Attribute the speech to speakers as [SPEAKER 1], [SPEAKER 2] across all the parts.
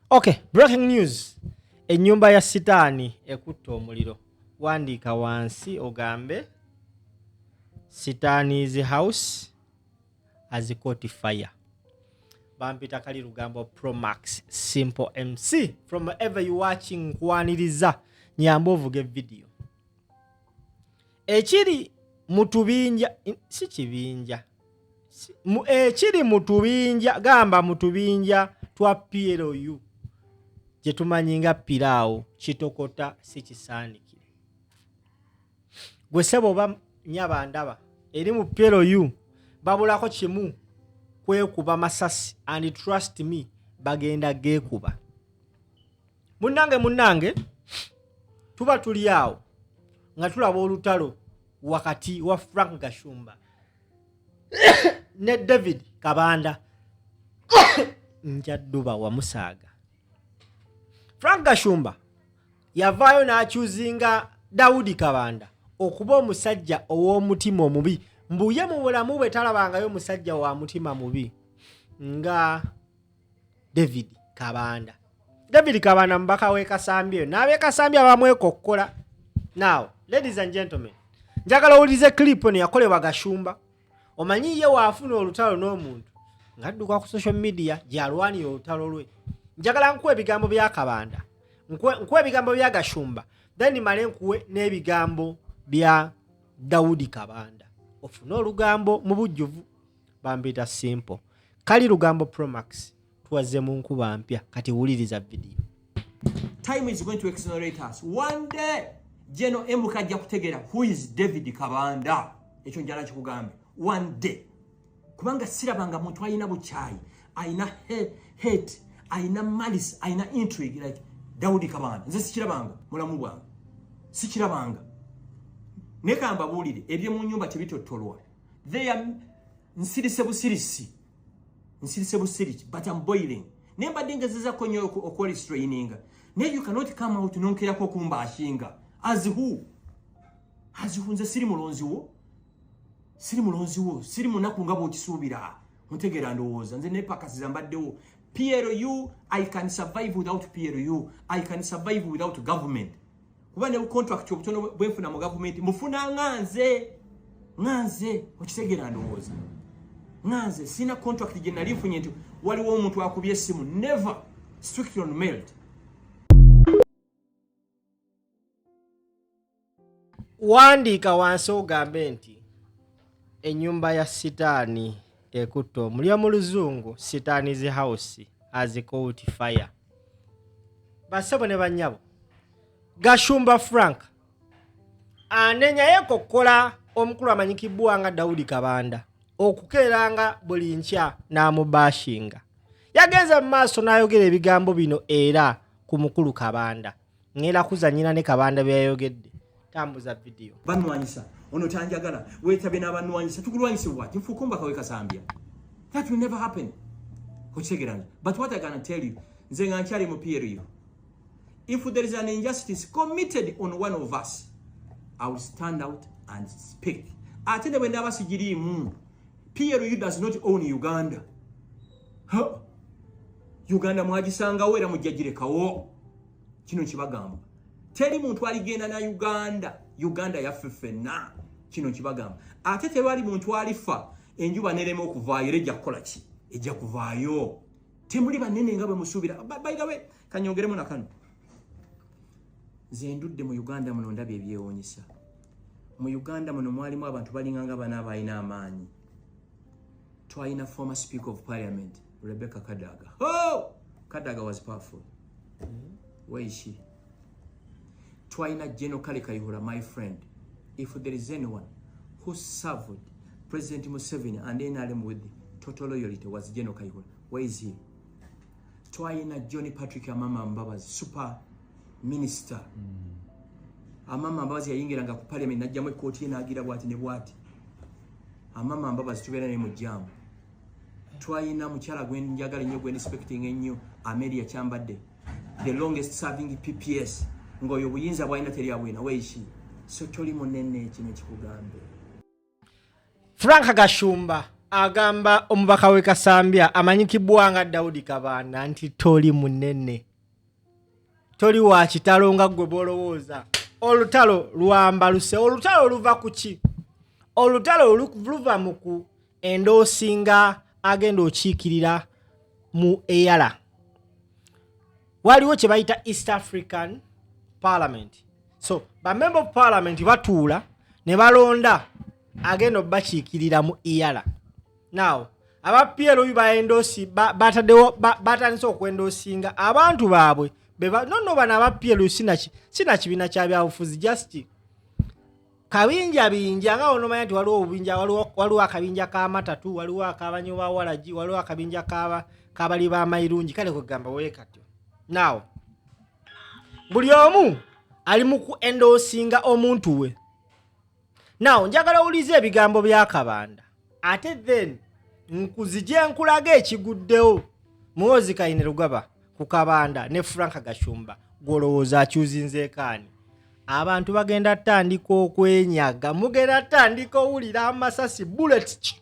[SPEAKER 1] Okay, breaking news. Ennyumba ya sitaani ekutte omuliro. Wandiika wansi ogambe sitaani's house has caught fire. Bampita kali lugambo Pro Max Simple MC from ever you watching kwaniriza nyamba ovuge video. Ekiri mu tubinja si kibinja ekiri eh, mu tubinja gamba mu tubinja twa plu gye tumanyi nga piraawo kitokota si kisaanikire gwe sebo oba nyaba ndaba eri mu plu babulako kimu kwekuba masasi and trust me bagenda geekuba munnange munnange tuba tuli awo nga tulaba olutalo wakati wa frank gashumba ne david kabanda njadduba wamusaaga frank gashumba yavaayo n'akyuzinga dawudi kabanda okuba omusajja ow'omutima omubi mbuye mu bulamu bwe talabangayo musajja wa mutima mubi nga david kabanda david kabanda mubaka wekasambyeyo nabekasambye abamwekokkola now ladies and gentlemen njagala owulize clip eno yakolebwa gashumba omanyi ye waafuna olutalo n'omuntu ngadduka ku social media gyalwanira olutalo lwe njagala nkuwa ebigambo bya kabanda nkuwa ebigambo bya gashumba then male nkuwe n'ebigambo bya dawudi kabanda ofune olugambo mu bujjuvu bambita simple kali lugambo promax tuwaze mu nkuba mpya kati wuliriza video time
[SPEAKER 2] is going to exonerate us one day jeno mk ajja kutegera who is david kabanda ekyo njala kikugambe one day kubanga sirabanga muntu alina bukyayi alina hate alina malice alina intrigue like daudi kabanda nze sikirabanga mulamu bwange sikirabanga naye kambabuulire ebyomu nyumba tebitottolwa they are nsirise busirisi nsirise busirisi but I'm boiling naye mbadde ngezezako nnyo okuwalistraininga naye you cannot come out nonkerako okumba ashinga as who as who nze siri mulonzi wo siri mulonzi wo siri munaku nga bwokisuubira ntegeera ndowooza nze nepakasiza mbaddewo PLU, I can survive without PLU. I can survive without government. kuba ne bukontrakiti obutono bwenfuna mu gavumenti mufuna nga nze nga nze okitegera ndowooza nga nze sirina kontrakiti gye nali nfunye nti waliwo omuntu akubye essimu never strictly on mailt
[SPEAKER 1] wandiika wansi ogambe nti enyumba ya sitaani ekutte omulya mu luzungu sitaani's house as coat fire basebo ne banyabo gashumba frank anenyayo kokola omukulu amanyikibwa nga daudi kabanda okukeeranga buli nkya n'amubashinga yagenze mu maaso n'ayogera ebigambo bino era ku mukulu kabanda ngenda kuzanyira ne kabanda byeyayogedde tambuza vidiyo banwanyisa ono
[SPEAKER 2] tanjagala wetabye n'abanwanyisa tukulwanyise wati nfuukombaka wekasambya that will never happen okitegerana but what i gana tell you nze nga nkyali mu period if there is an injustice committed on one of us i will stand out and speak ate ne bwendaba sigiriimu plu does not own uganda huh? uganda mwagisangawo era mujjagirekawo kino kibagamba teri muntu aligenda na uganda uganda yaffe ffenna kino kibagamba ate tewali muntu alifa enjuba nerema okuvaayo era ejja kukola ki ejja kuvaayo temuli banene nga bwe musuubira baidawe kanyongeremu na kano nze ndudde mu uganda muno ndabye ebyewunyisa mu uganda muno mwalimu abantu balinga nga bana abalina amaanyi twalina former speaker of parliament rebecca kadaga oh! kadaga was powerful where is she twalina general kale kayihura my friend if there is anyone who served president museveni and nrm with total loyalty was general kayihura where is he twalina john patrick amama mbabazi super minister mm. amama mbabazi yayingiranga ku parliament najjamu ekkooti ye naagira bwati ne bwati amama mbabazi tubeera naye mu jaamu twayina mukyala gwenjagala ennyo gwendispecting ennyo ameria kyambadde the longest serving pps ngaoyo obuyinza bwalina teri abwina weishi so toli munene kino
[SPEAKER 1] ekikugambe
[SPEAKER 2] frank gashumba
[SPEAKER 1] agamba omubaka we kasambya amanyikibwa nga daudi kabaana nti toli munene toli wa kitalo nga ggwe bwolowooza olutalo lwambaluse olutalo luva ku ki olutalo luva mu ku endoosi nga agenda okiikirira mu eyala waliwo kye bayita east african parliament so bamemba of parliament batuula ne balonda agenda obakiikirira mu eyala now aba plu baendosi batadewo batandise okwendosinga abantu baabwe nono bano aba plu sina kibiina kyabyabufuzi just kabinja binja nga onomanya nti waliwo obubinja waliwo akabinja ka matatu waliwo akabanyo ba walagi waliwo akabinja kabali ba mairungi kale kwegamba wekatyo naw buli omu ali mu ku endosinga omuntu we naw njagala owuliza ebigambo byakabanda ate then nkuzije nkulaga ekiguddewo muwozi kayine lugaba ku kabanda ne frank gashumba gwolowooza akyuzinzeekaani abantu bagenda tandika okwenyaga mugenda tandika owulira amasasi bullet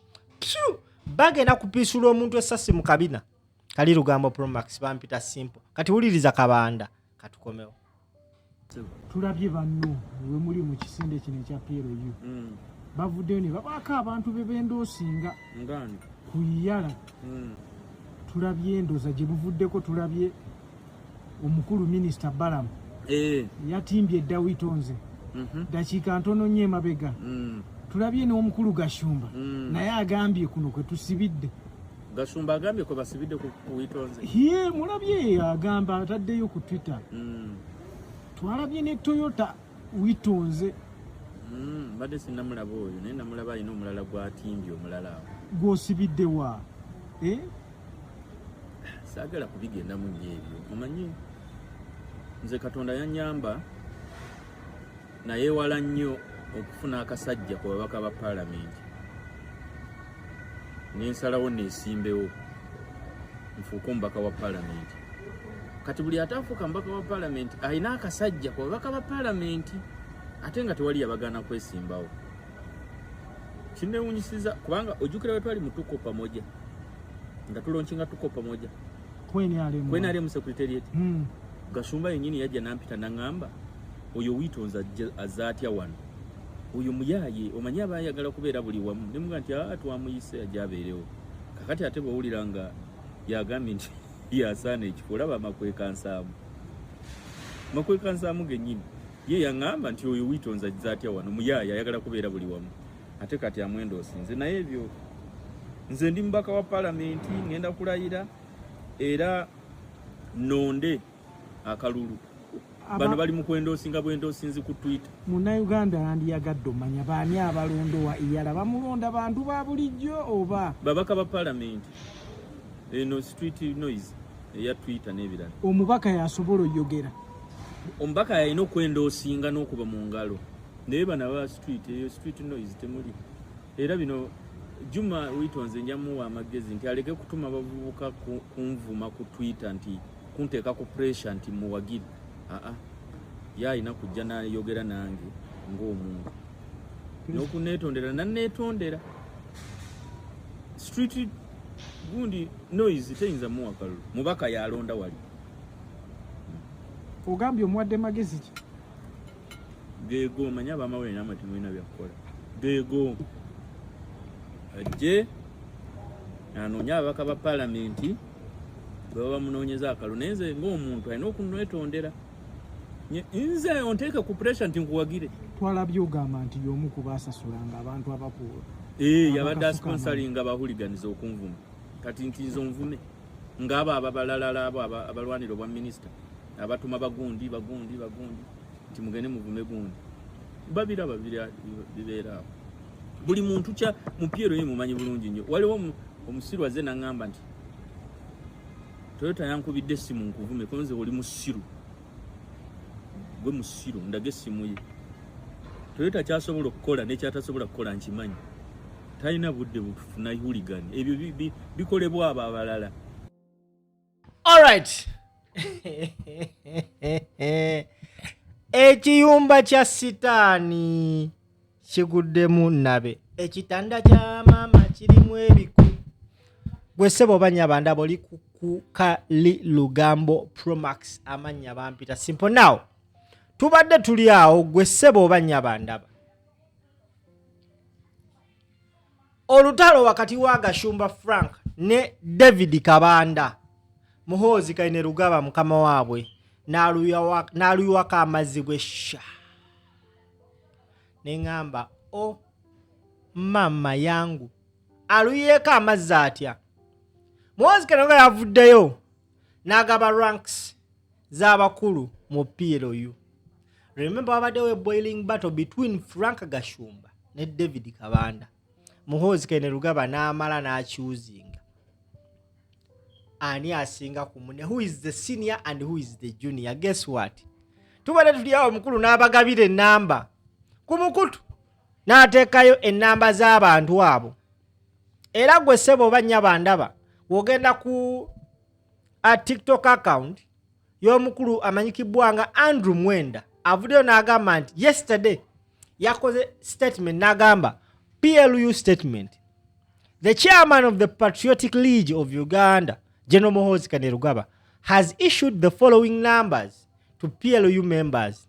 [SPEAKER 1] bagenda kupiisula omuntu esasi mu kabina kali lugambo promax bampita simple kati wuliriza kabanda katukomewo
[SPEAKER 3] tulabye banno we muli mu kisinde kino ekya plu mm. bavuddeyo ne babaako abantu be bendoosinga ku iyala mm. tulabye endoza gye buvuddeko tulabye omukulu minisita balamu eh. yatimbye edawito nze mhm. dakiika ntono nyo emabega mm. tulabye n'omukulu gashumba naye agambye kuno kwe tusibidde Gashumba
[SPEAKER 4] agambye kwe basibidde ku Witonze. Yee, mulabye
[SPEAKER 3] agamba ataddeyo ku Twitter. Mm. Twalabye ne Toyota Witonze. Mm,
[SPEAKER 4] bade sinamulaba oyo naye namulaba alina omulala gwatimbye omulala awo. Gwosibidde wa?
[SPEAKER 3] Eh?
[SPEAKER 4] Saagala kubigendamu nnyo ebyo. Omanyi nze Katonda yanyamba. nayewala nnyo okufuna akasajja ku babaka ba paalamenti nensalawo nesimbewo nfuuke omubaka wa paalamenti kati buli ataafuuka mubaka wa paalamenti alina akasajja ku babaka ba paalamenti ate nga tewali yabagaana kwesimbawo kinewunyisiza kubanga ojjukira wetwali mutuko pamoja nga tulonkinga tuko pamoja kwenaremu secretariat hmm. gasumba yenyini yajja nampita nangamba oyo witonza azatya wano oyo muyaye omanyi aba ayagala kubeera buli wamu nemuga nti aa ah, twamuyise ajja abeerewo kakati ate bwowulira nga yagambye nti yasaana ekifo olaba makwekansaamu makwekansaamu genyini ye yaŋamba nti oyo witonza zatya wano muyaye ayagala kubeera buli wamu ate kati amwenda osinze naye ebyo nze ndi mubaka wa palamenti ŋenda kulayira era nonde akalulu bano bali mukwendoosinga bwendoosinzi ku twitter munauganda
[SPEAKER 3] yandiyagadde omanya baani abalondowa iyala bamulonda bantu ba bulijjo oba babaka ba palamenti
[SPEAKER 4] eno street noise eya twitter n'ebirala omubaka yasobola
[SPEAKER 3] oyogera omubaka
[SPEAKER 4] yalina okwendoosinga n'okuba mu ngalo naye bana ba street eyo street noise temuli era bino juma witonze njamuwa amagezi nti aleke kutuma bavubuka kunvuma ku twitter nti kunteeka ku pressure nti muwagiri aa ye alina kujja nayogera nange ng'omuntu n'okuneetondera naneetondera street gundi noise teyinza muwa kalulu mubaka yalonda wali
[SPEAKER 3] ogambye omuwadde magezi ki
[SPEAKER 4] geego manya abamawere namatimu ina byakukola geego ajje anoonye ababaka ba palamenti bwebaba bamunoonyeza akalo naye nze ngaomuntu alina okunetondera nze onteeke ku pressure nti nkuwagire twalabye ogamba
[SPEAKER 3] nti yomu kubasasulanga abantu abakuwa ee eh, yabadde
[SPEAKER 4] asponsoringa abahuliganiza okunvuma kati nti nze onvume ngaabo ababalalala abo abalwanira obwa minisita abatuma bagundi bagundi bagundi nti mugende muvume gundi babiraba bibeeraawo buli muntu kya mupiira oyo mumanyi bulungi nnyo waliwo omusiru azze naŋŋamba nti toyota yankubidde essimu nkuvume konze oli musiru gwe musiru ndaga essimu ye toyota kyasobola okukola nekyatasobola kukola nkimanyi talina budde butufuna huligan ebyo bikolebwa abo abalala Alright.
[SPEAKER 1] Ekiyumba kya sitaani kiguddemu nabe. Ekitanda kya maama kirimu ebiku. Gwe sebo banya banda boli kuka li lugambo Pro Max amanya bampita. Simple now. Tubadde tuli awo gwe sebo banya banda. olutalo wakati wa gashumba frank ne david kabanda muhoozi kaine lugaba mukama waabwe n'aluyiwako amazzi gwesha ne ŋŋamba o oh, maama yangu aluyiyeeko amazzi atya muhoozi kaine lugaba yavuddeyo n'agaba ranks z'abakulu mu PLU. Remember wabaddewo e boiling battle between Frank Gashumba ne David Kabanda. Muhoozi Kene Lugaba n'amala n'akyuzinga ani asinga ku mune who is the senior and who is the junior guess what tubadde tuli awo omukulu n'abagabira ennamba ku mukutu n'ateekayo ennamba z'abantu abo era gwe sebo oba nyabo andaba wogenda ku a tiktok account y'omukulu amanyikibwa nga andrew mwenda avuddeyo n'agamba nti yesterday yakoze statement n'agamba plu statement the chairman of the patriotic league of uganda general mohozi kanerugaba has issued the following numbers to plu members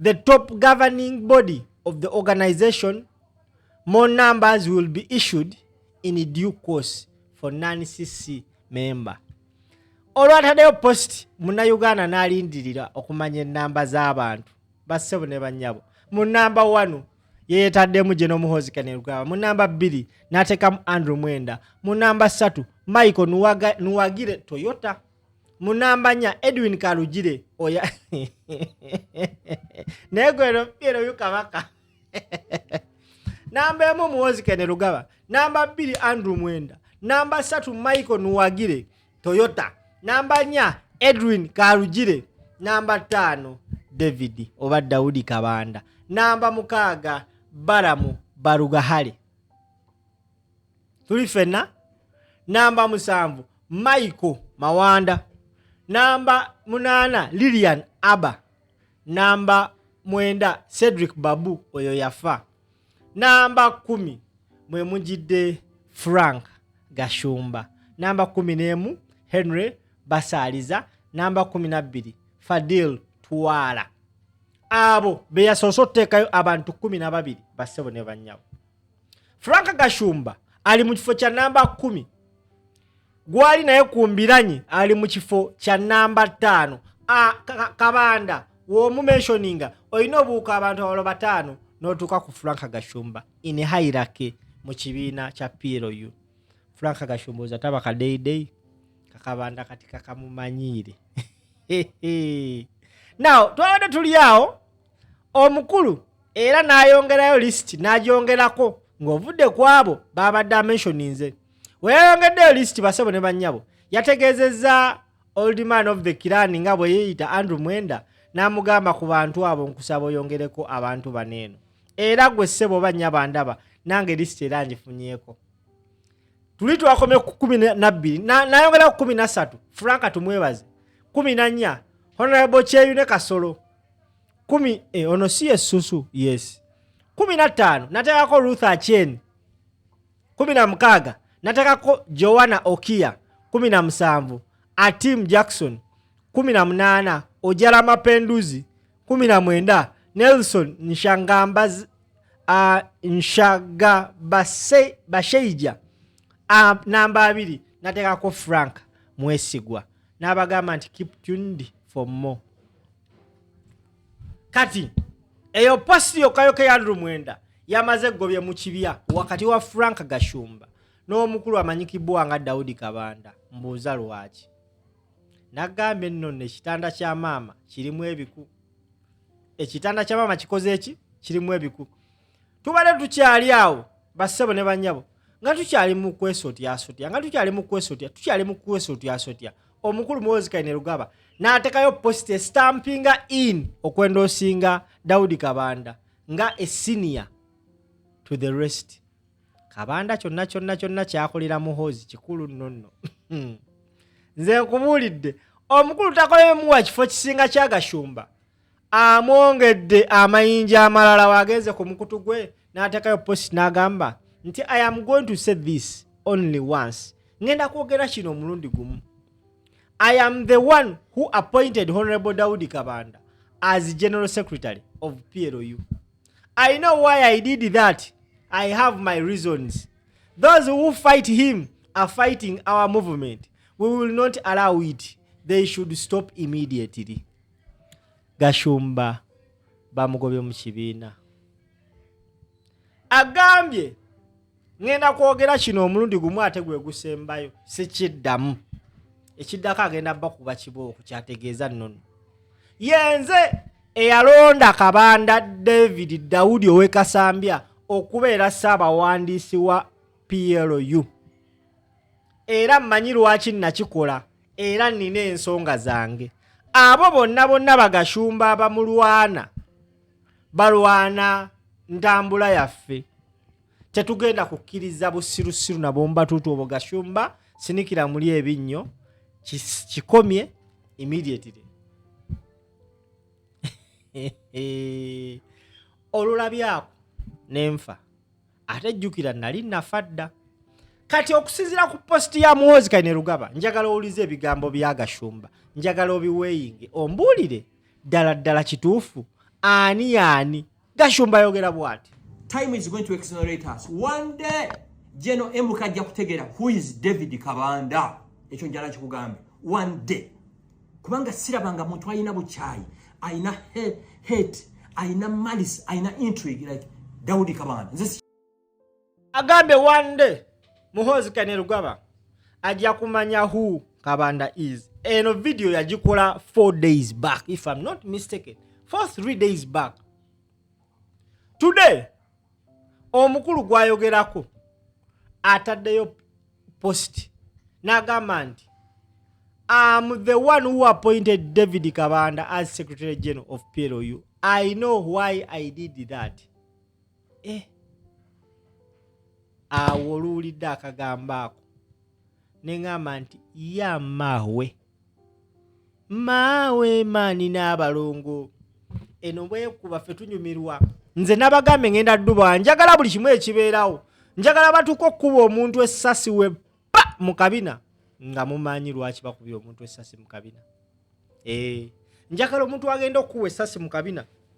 [SPEAKER 1] The top governing body of the organization, more numbers will be issued in due course for non-CC member. Olwatadeyo post muna Uganda nalindirira okumanya enamba z'abantu bassebo ne banyabo. Mu namba 1 yeyetaddemu gye n'omuhoozi kanerugaba mu namba bbiri n'ateekamu andrew mwenda mu namba ssatu michael nuwagire toyota munambanya edwin kalugire oya naye gweroeroyu kabaka namba emu muwozi kene lugaba namba bbiri andrew mwenda namba satu michael nuwagire toyota namba nya edwin kalugire namba ttaano david oba dawudi kabanda namba mukaaga baramu barugahale tuli fenna namba musanvu michael mawanda namba munaana lilian aba namba mwenda cedric babu oyo yafa namba kumi mwe mujidde frank gashumba namba kumi n'emu henry basaaliza namba kumi nabbiri fadil twala abo beyasoose okuteekayo abantu kumi na babiri bassebo ne bannyabo Frank Gashumba ali mu kifo kya namba kumi gwali naye ku mbiranye ali mu kifo kya namba ttaano kabanda womumensioninga olina obuuka abantu abalo bataano notuuka ku frank gashumba in hairake mu kibiina kya plu frank gashumba oza taba kadeidei kakabanda kati kakamumanyiire now twabadde tuli awo omukulu era n'ayongerayo lisiti n'agyongerako ng'ovudde ku abo baabadde amentioninze we yayongeddeyo lisiti basebo ne bannyabo yategeezezza old man of the kirani nga bwe yeeyita andrew mwenda n'amugamba ku bantu abo nkusaba oyongereko abantu bano eno era gwe ssebo oba nnyabo andaba nange lisiti era ngifunyeko tuli twakomye ku kumi nabbiri nayongera ku kumi nassatu franka tumwebaze kumi nannya honorable kyeyune kasolo kumi eh, ono si yesusu yes kumi na ttaano nateekako ruth achen kumi na mukaaga nateekako joanna okia kumi na musanvu atim jackson kumi na munaana ojala mapenduzi kumi na mwenda nelson nshangambaz uh, nshaga base, basheija uh, namba abiri nateekako frank mwesigwa n'abagamba nti keep tuned for more kati eyo post yokayoka ya andrew mwenda yamaze egobye mu kibya wakati wa frank gashumba n'omukulu amanyikibwa nga daudi kabanda mbuuza lwaki nagamba enno nekitanda kya maama kirimu ebiku ekitanda kya maama kikoze eki kirimu ebiku tubadde tukyali awo bassebo ne banyabo nga tukyali mu kwesotyasotya nga tukyali mu kwesotya tukyali mu kwesotyasotya omukulu muwozi kaine lugaba n'atekayo posita estampinga in okwendoosinga daudi kabanda nga esiniya to the rest kabanda kyonna kyonna kyonna kyakolera muhozi kikulu nonno nze nkubuulidde omukulu takolemuwa kifo kisinga kyagashumba amwongedde amayinja amalala wagenze ku mukutu gwe n'ateekayo post n'agamba nti i am going to say this only once ngenda kwogera kino omulundi gumu i am the one who appointed honorable daudi kabanda as general secretary of plu i know why i did that i have my reasons those who fight him are fighting our movement we will not allow it they should stop immediately gashumba bamugobye mu kibiina agambye ŋenda kwogera kino omulundi gumu ate gwe gusembayo sikiddamu ekiddako agenda bba kuba kibooko kyategeeza nnono yenze eyalonda kabanda david daudi owekasambya okubeera ssaabawandiisi wa plu era mmanyi lwaki nakikola era nnina ensonga zange abo bonna bonna bagashumba abamulwana balwana ntambula yaffe tetugenda kukkiriza busirusiru nabombatuutu obwo gashumba sinikira muli ebinnyo kikomye immediately olulabyako nenfa ate jjukira nali nafa dda kati okusinzira ku positi ya muwozi kaine rugaba njagala owulize ebigambo bya gashumba njagala obiweyinge ombuulire ddala ddala kituufu ani yaani gashumba ayogera bwati time is going to
[SPEAKER 2] exonerate us one day jeno emuka ajja kutegera who is david kabanda ekyo njala kikugambe one day kubanga sirabanga muntu alina bukyayi alina hate alina malice alina intrigue like daudi kabanda nze
[SPEAKER 1] agambye one day muhoozi kanerugaba ajja kumanya who kabanda is eno video yagikola four days back if im not mistaken for three days back today omukulu gwayogerako ataddeyo post n'agamba nti am the one who appointed david kabanda as secretary general of plu i know why i did that eh. awo oluwulidde akagambo ako neŋamba nti yamahwe maawe maani n'abalongo eno bwekuba ffe tunyumirwa nze nabagambe ngenda duba njagala buli kimu ekibeerawo njagala batuuka okukuba omuntu essasi we pa mu kabina nga mumanyi lwaki bakubye omuntu essasi mu kabina ee eh, njagala omuntu agenda okukuba essasi mu kabina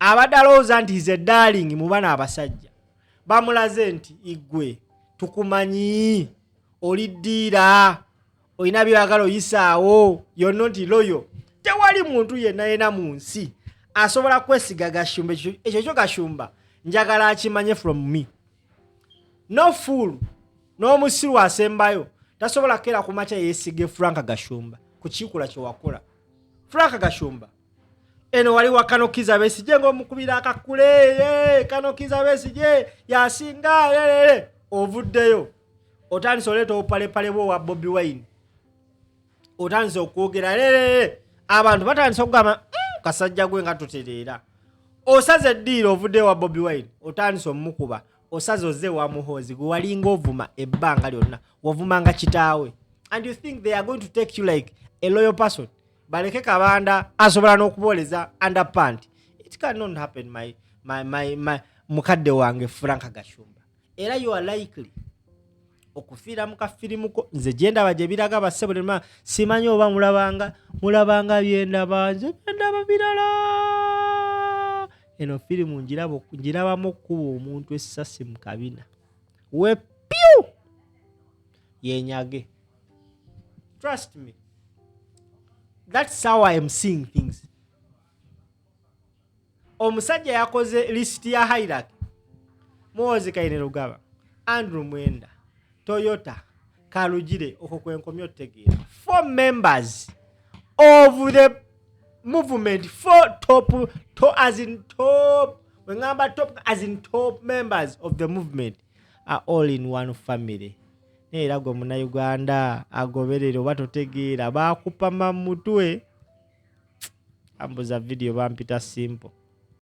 [SPEAKER 1] abadde alowooza nti hize darling mu bana abasajja bamulaze nti igwe tukumanyi oli ddiira olina byeyagala oyisaawo yonna nti loyo tewali muntu yenna yena mu nsi asobola kwesiga gashumba ekyo kyo gashumba njagala akimanye from me no full n'omusiru asembayo tasobola kera kumakya yesige frank gashumba ku kikula kyewakola frank gashumba eno wali wa kano kiza besije ng'omukubira akakule ye kano kiza besije yasinga lelele ovuddeyo otandise oleeta obupalepale bwo wa bobi wine otandise okwogera lelele abantu batandise okugamba mm, kasajja gwe nga tutereera osaze eddiiro ovuddeyo wa bobi wine otandise omukuba osaze oze wa muhoozi gwe walinga ovuma ebbanga lyonna wavumanga kitaawe and you think they are going to take you like a loyal person baleke kabanda asobola n'okubooleza under pant it cannot happen my, my, my, my mukadde wange frank gashumba era you are likely okufiira mu kafirimuko nze gyendaba gye biraga basse buli ma simanyi oba mulabanga mulabanga byendaba nze byendaba birala eno firimu ngirabamu okukuba omuntu essasi mu kabina wepyu yenyage Trust me. That's how I am seeing things. Omusajja yakoze list ya Hirak. Muwozi Kaine Rugaba, Andrew Mwenda, Toyota, Kalujire okwo kwenkomyo tegeera. Four members of the movement four top to as in top when ngamba top as in top members of the movement a all in one family naye era gwe munauganda agoberere oba totegeera baakupama mu mutwe ambuza vidiyo bampita simple